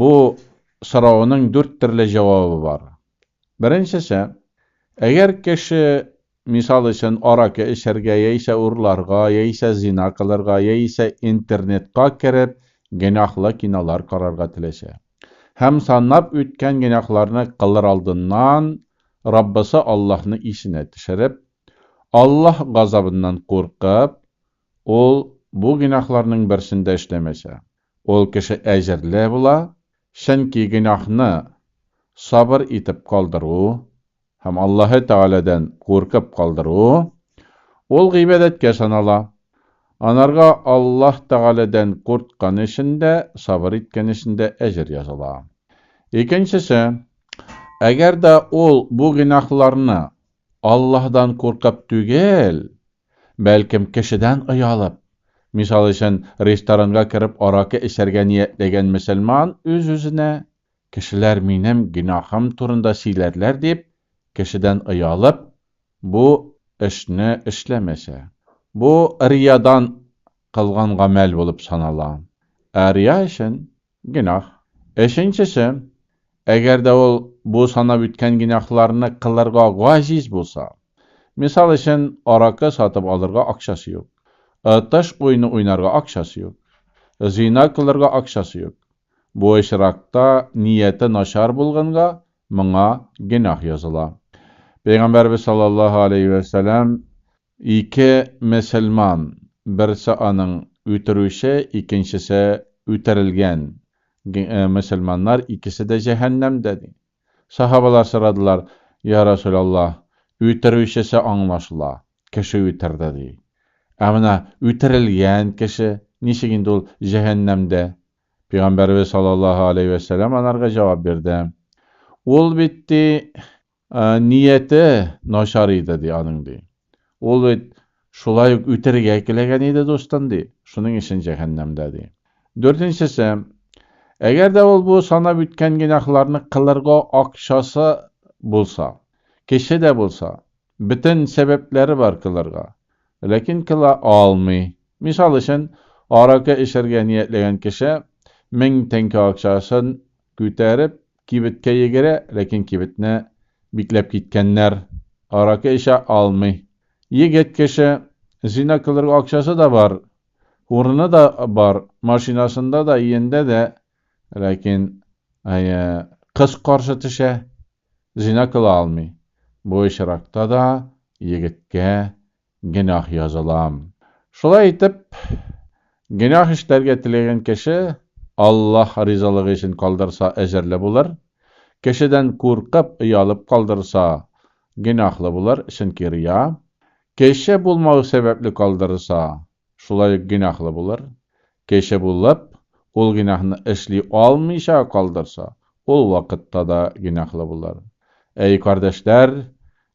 Бу сорауның дүрт төрле җавабы бар. Беренчесе, әгәр кеше, мисал өчен, аракы эчәргә, яисә урларга, яисә зина кылырга, яисә интернетка кереп, гөнаһлы кинолар карарга теләсә, һәм санап үткән гөнаһларны кылыр алдыннан Раббысы Аллаһны исенә төшереп, Аллаһ газабыннан куркып, ул бу гөнаһларның берсен дә эшләмәсә, Ул кеше әҗерле була, чөнки гөнаһны сабыр итеп калдыру һәм Аллаһы Тәгаләдән куркып калдыру, ул гыйбадәткә санала. Анарга Аллаһ Тәгаләдән курткан өчен дә, сабыр иткән өчен дә әҗер языла. Икенчесе, әгәр дә ул бу гөнаһларны Аллаһдан куркып түгел, Бәлкем, кешедән оялып. Мисал өчен, ресторанга кереп аракы эчәргә ниятләгән мөселман үз-үзенә, Кешеләр минем гөнаһым турында сөйләрләр дип, кешедән оялып, бу эшне эшләмәсә. Бу риядан кылган гамәл булып санала. Ә рия өчен Гөнаһ. Өченчесе, әгәр дә ул бу санап үткән гөнаһларны кылырга гаҗиз булса, мисал өчен, аракы сатып алырга акчасы юк, отыш уены уйнарга акчасы юк, зина кылырга акчасы юк, бу очракта нияте начар булганга, моңа гөнаһ языла. Пәйгамбәребез саллаллаһу алейһи вә сәлам, Ике мөселман, берсе аның үтерүче, икенчесе үтерелгән, г-э, мөселманнар икесе дә җәһәннәмдә, ди. Саһабалар сорадылар, Йа Расүләллаһ, үтерүчесе аңлашыла, кеше үтерде, ди. Ә менә үтерелгән кеше, ничек инде ул җәһәннәмдә? Пигамбәребез саллаллаһу аләйһи вә сәлам анарга җавап бирде, Ул бит, ди, Ә, нияте начар иде, ди, аның, ди. Ул бит шулай ук үтерергә теләгән иде дустын, ди. Шуның өчен җәһәннәмдә, ди. Дүртенчесе, әгәр дә ул бу санап үткән гөнаһларны кылырга акчасы булса, кеше дә булса, бөтен сәбәпләре бар кылырга, ләкин кыла алмый. Мисал өчен, аракы эчәргә ниятләгән кеше мең тәңкә акчасын күтәреп, Кибеткә йөгерә, ләкин кибетне бикләп киткәннәр. Аракы эчә алмый. Егет кеше, зина кылырга акчасы да бар, урыны да бар, машинасында да, иендә дә, ләкин, әйе, кыз каршы төшә, зина кыла алмый. Бу очракта да егеткә Гөнаһ языла. Шулай итеп, гөнаһ эшләргә теләгән кеше Аллаһ ризалыгы өчен калдырса, әҗерле булыр, кешедән куркып, оялып калдырса, гөнаһлы булыр, чөнки рия, кеше булмау сәбәпле калдырса, Шулай ук гөнаһлы булыр. Кеше булып, ул гөнаһны эшли алмыйча калдырса, ул вакытта да гөнаһлы булыр. Әй, кардәшләр,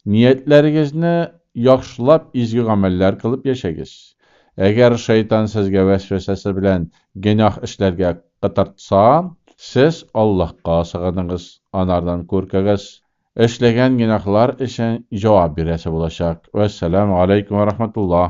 ниятләрегезне яхшылап, изге гамәлләр кылып яшәгез. Әгәр Шайтан сезгә вәсвәсәсе белән гөнаһ эшләргә кытыртса, сез Аллаһка сыгыныгыз, анардан күркегез. Эшләгән гөнаһлар өчен җавап бирәсе булачак. Вәссәламү аләйкүм вә рахмәтуллаһ.